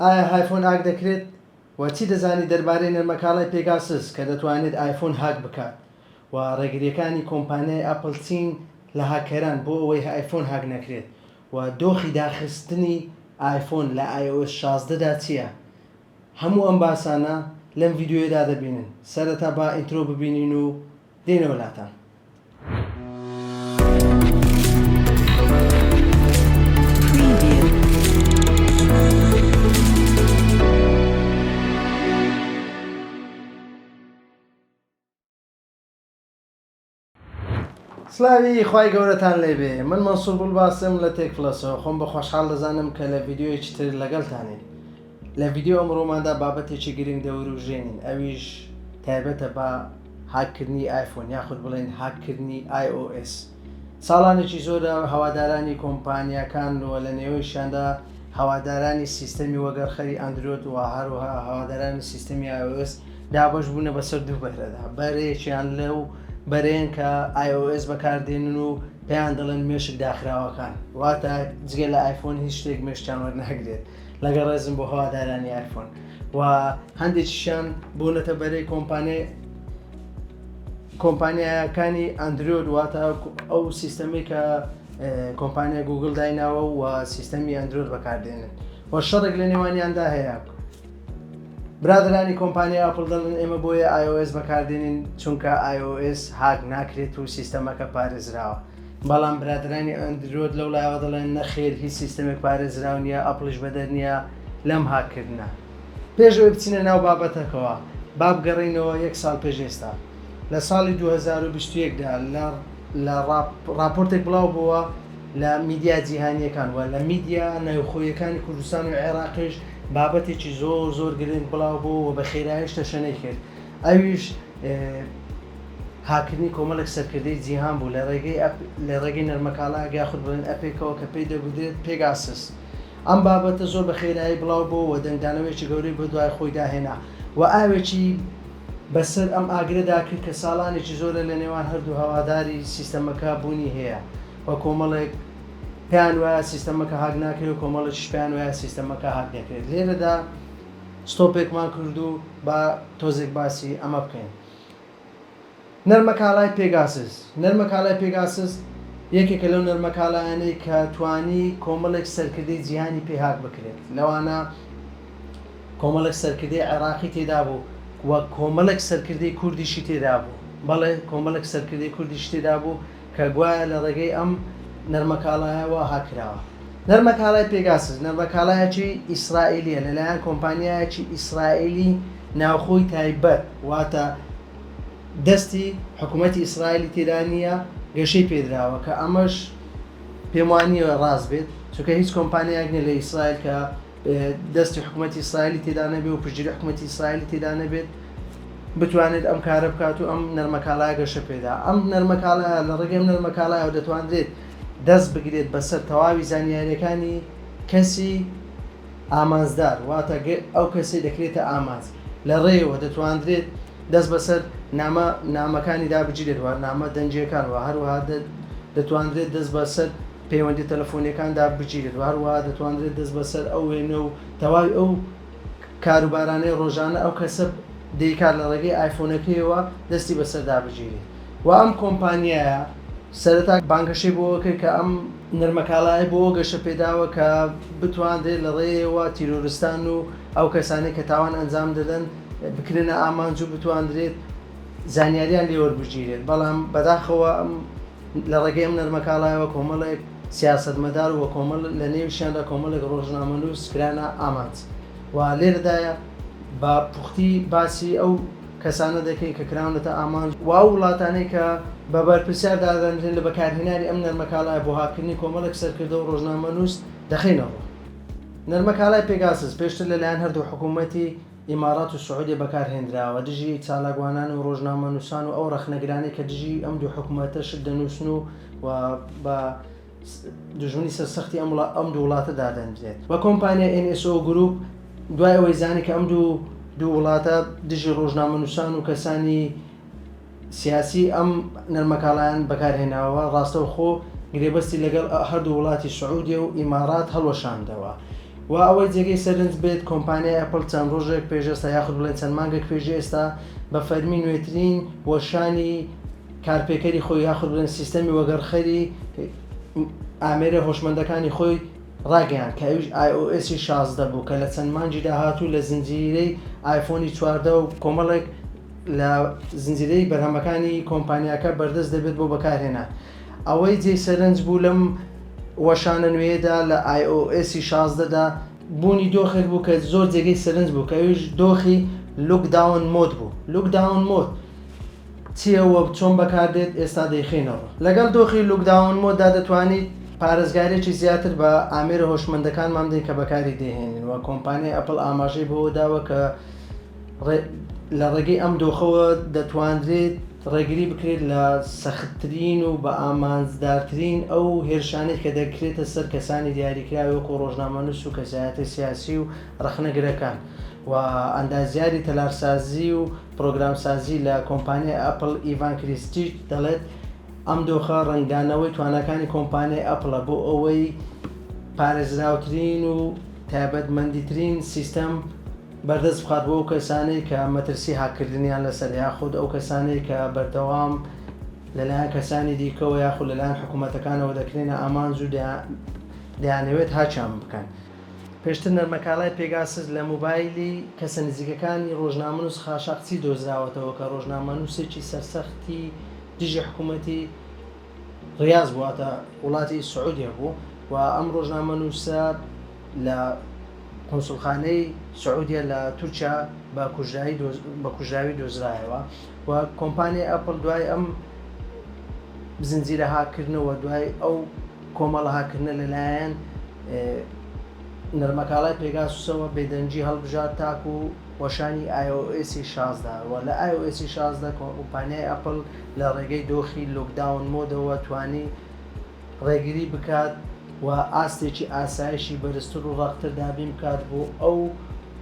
ئایا ئایفۆن ئاک دەکرێت؟ وە چی دەزانی دەربارەی نەرمەکاڵای پێگاسس کە دەتوانێت ئایفۆن هاک بکات؟ وە ڕێگریەکانی کۆمپانیای ئەپڵ چین لە هاککەران بۆ ئەوەی ئایفۆن هاک نەکرێت؟ وە دۆخی داخستنی ئایفۆن لە ئای ئۆ ئێس شازدە دا چیە؟ هەموو ئەم باسانە لەم ڤیدیۆیەدا دەبینن سەرەتا با ئینترۆ ببینین و دێنەوە لاتان. سلاوی خی گەورەتان لێبێ من مەسوول باسم لە تێکفلەسەوە خۆم بە خۆشحاڵ دەزانم کە لە یددیوەیەکی تر لەگەڵتانین لە ڤیدیۆی ئەمڕۆماندا بابەتێکی گرنگ دەورووژێنین ئەویش تایبەتە بە هاک کردنی ئایفۆن یاخود بڵێین هاک کردنی ئای ئۆ ئێس ساڵانێکی زۆرە هەوادارانی کۆمپانیاکان و لە نێوەیشیاندا هەوادارانی سیستەمی وەگەڕخەری ئەندرۆد و هەروەها هەوادارانی سیستەمی ئای ئۆ ئێس دابەش بوونە بەسەر دوو بەرەدا بەرەیەکیان لەو بەرەیەن کە ئای ئۆ ئێس بەکاردێنن و پێیان دەڵێن مێشک داخراوەکان واتە جگە لە ئایفۆن هیچ شتێک مێشکیان وەرناگرێت لەگەڵ ڕێزم بۆ هەوادارانی ئایفۆن و هەندێکیشیان بوونەتە بەرەی کۆمپانیای کۆمپانیایەکانی ئەندرۆید واتە ئەو سیستەمی کە کۆمپانیا گوگل دایناوە و سیستەمی ئەندرۆید بەکاردێنن و شەڕێک لە نێوانیاندا هەیە برادرانی کۆمپانیا ئاپل دەڵن ئێمە بۆیە iOS بەکاردێنین چونکە iOS هاک ناکرێت و سیستەمەکە پارێزراوە بەڵام برادرانی ئەندرۆد لەو لایەوە دەڵێن نەخێر هیچ سیستەمێک پارێزراو نییە ئەپڵیش بەدەر نییە لەم هاککردنە پێشەوەی بچینە ناو بابەتەکەوە با بگەڕینەوە یەک ساڵ پێش ئێستا لە ساڵی 2021دا لە راپۆرتێک بڵاو بووە لە میدیا جیهانیەکان وە لە میدیا ناوخۆیەکانی کوردستان و عێراقیش بابەتێکی زۆر زۆر گرنگ بڵاو بوو و بە خێرایش تەشەنەی کرد ئەویش هاککردنی کۆمەڵێک سەرکردەی جیهان بوو لە ڕێگەی لە ڕێگەی نەرمەکاڵا یاخود بڵێن ئەپێکەوە کە پێی دەگوترێت پێگاسس ئەم بابەتە زۆر بە خێرایی بڵاو بۆەوە دەنگدانەوەیکی گەورەی بە دوای خۆی داهێنا و ئاوێکی بەسەر ئەم ئاگرەدا کرد کە ساڵانێکی زۆرە لە نێوان هەردوو هەواداری سیستەمەکە بوونی هەیە و کۆمەڵێک پێیان وایە سیستەمەکە هاک ناکرێت و کۆمەڵێکیش پێیان وایە سیستەمەکە هاک دەکرێت لێرەدا ستۆپێکمان کرد و با تۆزێک باسی ئەمە بکەین. نەرمەکاڵای پێگاسس، نەرمەکاڵای پێگاسس یەکێکە لەو نەرمەکاڵایانەی کە توانی کۆمەڵێک سەرکردەی جیهانی پێ هاک بکرێت، لەوانە کۆمەڵێک سەرکردەی عێراقی تێدا بوو و کۆمەڵێک سەرکردەی کوردیشی تێدا بوو، بەڵێ کۆمەڵێک سەرکردەی کوردیشی تێدا بوو، کە گوایە لە ڕێگەی ئەم نەرمەکاڵایەوە هاک کراوە. نەرمەکاڵای پێگاسس نەرمەکاڵایەکی ئیسرائیلییە لەلایەن کۆمپانیایەکی ئیسرائیلی ناوخۆی تایبەت، واتە دەستی حکومەتی ئیسرائیلی تێدا نییە، گەشەی پێدراوە، کە ئەمەش پێموانییە ڕاست بێت، چونکە هیچ کۆمپانیایەک نییە لە ئیسرائیل کە دەستی حکومەتی ئیسرائیلی تێدا نەبێ و پشتگیری حکومەتی ئیسرائیلی تێدا نەبێت بتوانێت ئەم کارە بکات و ئەم نەرمەکالا گەشە پێدا ئەم نەرمەکالا لە ڕێگەی ئەم نەرمەکالایەوە دەتوانرێت دەست بگرێت بەسەر تەواوی زانیاریەکانی کەسی ئامانجدار واتە ئەو کەسی دەکرێتە ئامانج لە ڕێەوە دەتواندرێت دەست بەسەر نامە نامەکانی دابگیرێت و نامە دەنجیەکان و هەروەها دەتواندرێت دەست بەسەر پەیوەندیە تەلەفۆنیەکاندا بگیرێت و هەروەها دەتوانرێت دەست بەسەر ئەو وێنە و تەواوی ئەو کاروبارانەی ڕۆژانە ئەو کەسە دەیکات لە ڕێگەی ئایفۆنەکەیەوە دەستی بەسەردا بگیرێت و ئەم کۆمپانیایە سەرەتا بانگەشەی بەوە کرد کە ئەم نەرمەکاڵایە بەوە گەشە پێداوە کە بتوانرێت لە ڕێیەوە تیرۆرستان و ئەو کەسانەی کە تاوان ئەنجام دەدەن بکرێنە ئامانج و بتوانرێت زانیاریان لێوەربگیرێت بەڵام بەداخەوە ئەم لە ڕێگەی ئەم نەرمەکاڵایەوە کۆمەڵێک سیاسەتمەدار و بەکۆمەڵ لە نێویشیاندا کۆمەڵێک ڕۆژنامەنووس کرانە ئامانج و لێرەدا بە پوختی باسی ئەو کەسانە دەکەین کە کراونەتە ئامانج و ئەو وڵاتانەی کە بە بەرپرسیار دادەنرێن لە بەکارهێنانی ئەم نەرمەکاڵایە بۆ هاککردنی کۆمەڵێک سەرکردە و ڕۆژنامەنووس دەخەینە ڕوو. نەرمەکاڵای پێگاسس پێشتر لەلایەن هەردوو حکوومەتی. ئیمارات و سعودیە بەکارهێندراوە دژی چالاکوانان و ڕۆژنامەنووسان و ئەو ڕەخنەگرانەی کە دژی ئەم دوو حکومەتە شت دەنووسن و و بە دژمنی سەر سەختی ئەم وڵا- ئەم دوو وڵاتە دادەنرێت و کۆمپانیای NSO Group دوای ئەوەی زانی کە ئەم دوو دوو وڵاتە دژی ڕۆژنامەنووسان و کەسانی سیاسی ئەم نەرمەکاڵایان بەکارهێناوە، ڕاستەوخۆ گرێبەستی لەگەڵ هەردوو وڵاتی سعودیە و ئیمارات هەڵوەشاندەوە. وا ئەوەی جێگەی سەرنج بێت کۆمپانیای ئەپڵ چەند ڕۆژێک پێش ئێستا یاخود بڵێن چەند مانگێک پێش ئێستا بە فەرمی نوێترین وەشانی کارپێکەری خۆی یاخود بڵێن سیستەمی وەگەڕخەری ئامێرە هۆشمەندەکانی خۆی ڕاگەیاند کە ئەویش ئای ئۆ ئێسی شازدە بوو کە لە چەند مانگی داهاتوو لە زنجیرەی ئایفۆنی چواردە و کۆمەڵێک لە زنجیرەی بەرهەمەکانی کۆمپانیاکە بەردەست دەبێت بۆ بەکارهێنان. ئەوەی جێی سەرنج بوو لەم وەشانە نوێیەدا لە iOS شازدە دا بوونی دۆخێک بوو کە زۆر جێگەی سەرنج بوو کە ئەویش دۆخی Look Down Mode بوو. Look Down Mode چییە و چۆن بەکاردێت ئێستا دەیخەینەوە. لەگەڵ دۆخی Look Down Mode دا دەتوانیت پارێزگارێکی زیاتر بە ئامێرە هۆشمەندەکانمان بدەین کە بەکاری دەیهێنین و کۆمپانیای Apple ئاماژەی بەوە داوە کە، لە ڕێگەی ئەم دۆخەوە دەتوانرێت ڕێگری بکرێت لە سەختترین و بە ئامانجدارترین ئەو هێرشانەی کە دەکرێتە سەر کەسانی دیاریکراوی وەکو ڕۆژنامەنووس و کەسایەتە سیاسی و ڕەخنەگرەکان و ئەندازیاری تەلارسازی و پرۆگرامسازی لە کۆمپانیای ئەپل ئیڤان کریستیچ دەڵێت ئەم دۆخە ڕنگدانەوەی توانەکانی کۆمپانیای ئەپلە بۆ ئەوەی پارێزراوترین و تایبەتمەندیترین سیستەم بەردەست بخات بۆ ئەو کەسانەی کە مەترسی هاککردنیان لەسەرە یاخود ئەو کەسانەی کە بەردەوام لەلایەن کەسانی دیکەوە یاخود لەلایەن حکومەتەکانەوە دەکرێنە ئامانج و دەیانەوێت هاکیان بکەن. پێشتر نەرمەکاڵای پێگاسس لە مۆبایلی کەسە نزیکەکانی ڕۆژنامەنووس خاشاقچی دۆزراوەتەوە کە ڕۆژنامەنووسێکی سەرسەختی دژی حکومەتی، ڕیاز واتە وڵاتی سعودیە بوو و ئەم ڕۆژنامەنووسە لە قونسوڵخانەی سعودیە لە تورکیا بە کوژراوی دۆزرایەوە و کۆمپانیای ئەپڵ دوای ئەم زنجیرە هاکردنەوە دوای ئەو کۆمەڵە هاکردنە لەلایەن نەرمەکاڵای پێگاسوسەوە بێدەنگی هەڵبژارد تاکو وەشانی ئای ئۆ ئێسی شازدە وە لە ئای ئۆ ئێسی شازدە کۆمپانیای ئەپڵ لە ڕێگەی دۆخی لۆکداون مۆدەوە توانی ڕێگری بکات و ئاستێکی ئاسایشی بەرزتر و ڕەقتر دابین بکات بۆ ئەو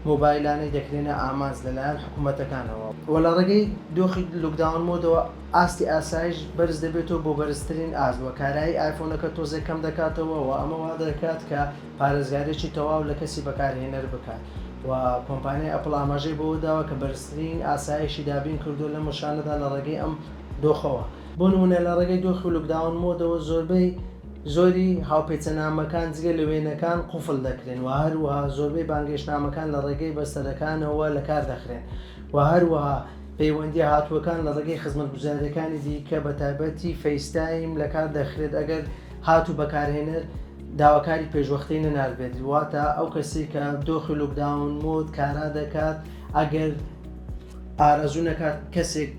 مۆبایلانەی دەکرێنە ئامانج لەلایەن حکومەتەکانەوە وە لە ڕێگەی دۆخی لۆکداون مۆدەوە ئاستی ئاسایش بەرز دەبێتەوە بۆ بەرزترین ئاست وە کارایی ئایفۆنەکە تۆزێک کەم دەکاتەوە وە ئەمە وادەکات کە پارێزگاریی تەواو لە کەسی بەکارهێنەر بکات و کۆمپانیای ئەپڵ ئاماژەی بەوە داوە کە بەرزترین ئاسایشی دابین کردووە لەم وشانەدا لە ڕێگەی ئەم دۆخەوە، بۆ نموونە لە ڕێگەی دۆخی لۆکداون مۆدەوە زۆربەی زۆری هاوپێچەنامەکان جگە لە وێنەکان قوفڵ دەکرێن و هەروەها زۆربەی بانگهێشتنامەکان لە ڕێگەی بەستەرەکانەوە لە کار دەخرێن و هەروەها پەیوەندییە هاتووەکان لە ڕێگەی خزمەتگوزارییەکانی دیکە بە تایبەتی فەیستایم لە کار دەخرێت ئەگەر هات و بەکارهێنەر داواکاری پێشوەختەی نەناردبێت واتە ئەو کەسی کە دۆخی لوکداون مۆد کارا دەکات ئەگەر ئارەزوو نەکات کەسێک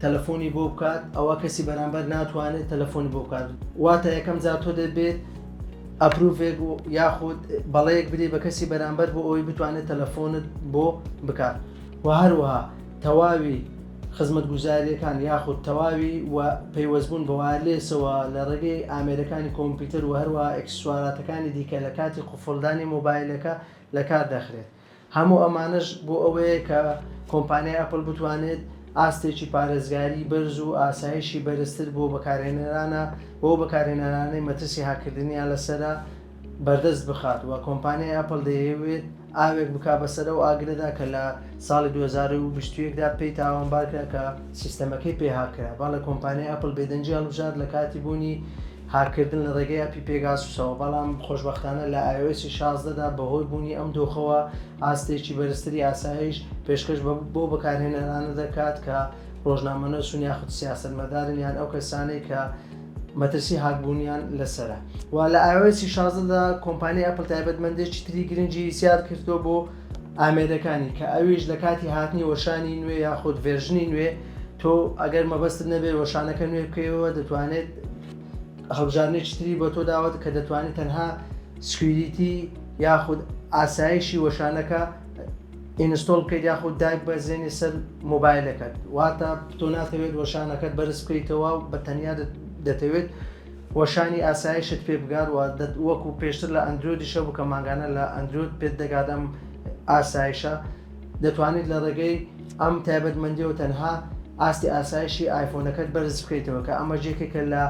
تەلەفۆنی بۆ بکات ئەوە کەسی بەرامبەر ناتوانێت تەلەفۆنی بۆ بکات واتە یەکەم جا تۆ دەبێت ئەپروڤێک و یاخود بەڵەیەک بدەی بە کەسی بەرامبەر بۆ ئەوی بتوانێت تەلەفۆنت بۆ بکات و هەروەها تەواوی خزمەتگوزارییەکان یاخود تەواوی و پەیوەستبوون بە وایەرلێسەوە لە ڕێگەی ئامێرەکانی کۆمپیوتەر و هەروەها ئێکسسواراتەکانی دیکە لە کاتی قوفڵدانی مۆبایلەکە لە کار دەخرێت هەموو ئەمانەش بۆ ئەوەیە کە کۆمپانیای ئەپڵ بتوانێت ئاستێکی پارێزگاری بەرز و ئاسایشی بەرزتر بۆ بەکارهێنەرانە بۆ بەکارهێنەرانەی مەترسی هاککردنیان لەسەرە بەردەست بخات و کۆمپانیای ئەپڵ دەیەوێت ئاوێک بکا بەسەر ئەو ئاگرەدا کە لە ساڵی دوو هەزار و بیست و یەک دا پێی تاوانبار کرا کە سیستەمەکەی پێ هاک کرا. بەڵێ کۆمپانیای ئەپڵ بێدەنگی هەڵبژارد لە کاتی بوونی هاک کردن لە ڕێگەی ئەپی پێگاسوسەوە بەڵام خۆشبەختانە لە iOS شازدە دا بەهۆی بوونی ئەم دۆخەوە ئاستێکی بەرزتری ئاسایش پێشکەش بەو بەکارهێنەرانە دەکات کە ڕۆژنامەنوسن یاخود سیاسەتمەدارن یان ئەو کەسانەی کە مەترسی هاکبوونیان لەسەرە و لە iOS شازدە دا کۆمپانیای ئەپڵ تایبەتمەندێکی تری گرنگی زیاد کردووە بۆ ئامێرەکانی کە ئەویش لە کاتی هاتنی وەشانی نوێ یاخود ڤێرژنی نوێ تۆ ئەگەر مەبەستت نەبێت وەشانەکە نوێ بکەیەوە دەتوانێت هەڵبژاردنێکی تری بۆ تۆ داوەت کە دەتوانێت تەنها سکویریتی یاخود ئاسایشی وەشانەکە ئینستۆڵ بکەیت یاخود دایک بەزێنی سەر مۆبایلەکەت واتە تۆ ناتەوێت وەشانەکەت بەرز بکەیتەوە و بە تەنیا دەتەوێت وەشانی ئاسایشت پێ بگاروە وەکو پێشتر لە ئەندرۆدی شەو بکە ماگانە لە ئەندرۆد پێت دەگادەم ئاسایشە دەتوانیت لە ڕێگەی ئەم تایبەتمەندیەوە تەنها ئاستی ئاسایشی ئایفۆنەکەت بەرز بکەیتەوە کە ئەمە جێکێکە لە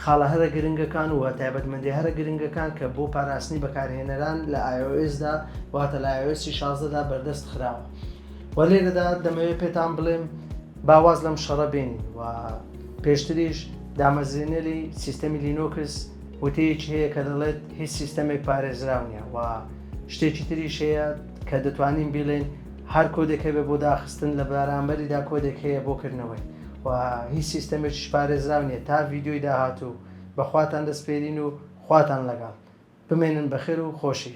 خاڵە هەرە گرنگەکان و تایبەتمەندی هەرە گرنگەکان کە بۆ پاراستنی بەکارهێنەران لە iOS دا واتە لە iOS 16 دا بەردەست خراوە و لێرەدا دەمەوێت پێتان بڵێم باواز لەم شەڕە بێنی و پێشتریش دامەزرێنەری سیستەمی لینۆکس وتەیەکی هەیە کە دەڵێت هیچ سیستەمێک پارێزراونیە و شتێکی تریش هەیە کە دەتوانین بیڵێین هەر کۆدێک هەبێ بۆ داخستن لە بەرامبەریدا کۆدێک هەیە بۆ کردنەوەی و هیچ سیستەمێکیش پارێزراو نییە تا ڤیدیۆی داهاتوو بەخواتان دەسپێرین و خواتان لەگەڵ بمێنن بەخێر و خۆشی